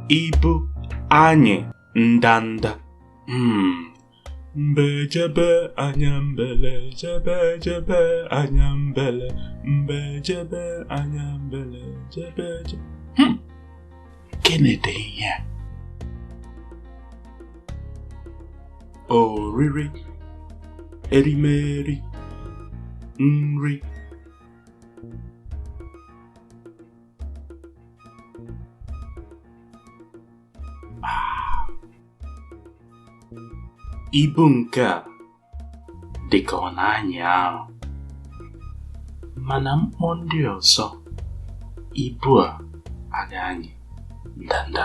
ibu anyị ndanda hmm. mbe jebe anya mbele jebe jebe anya mbele mbe jebe anya mbele jebe jebe hmm. kenede ihe a oriri erimeri nri ibu nke a dị ka ọ na-anyị arụ mana m kpọọ ndị ọzọ ibu a adị anyị ndanda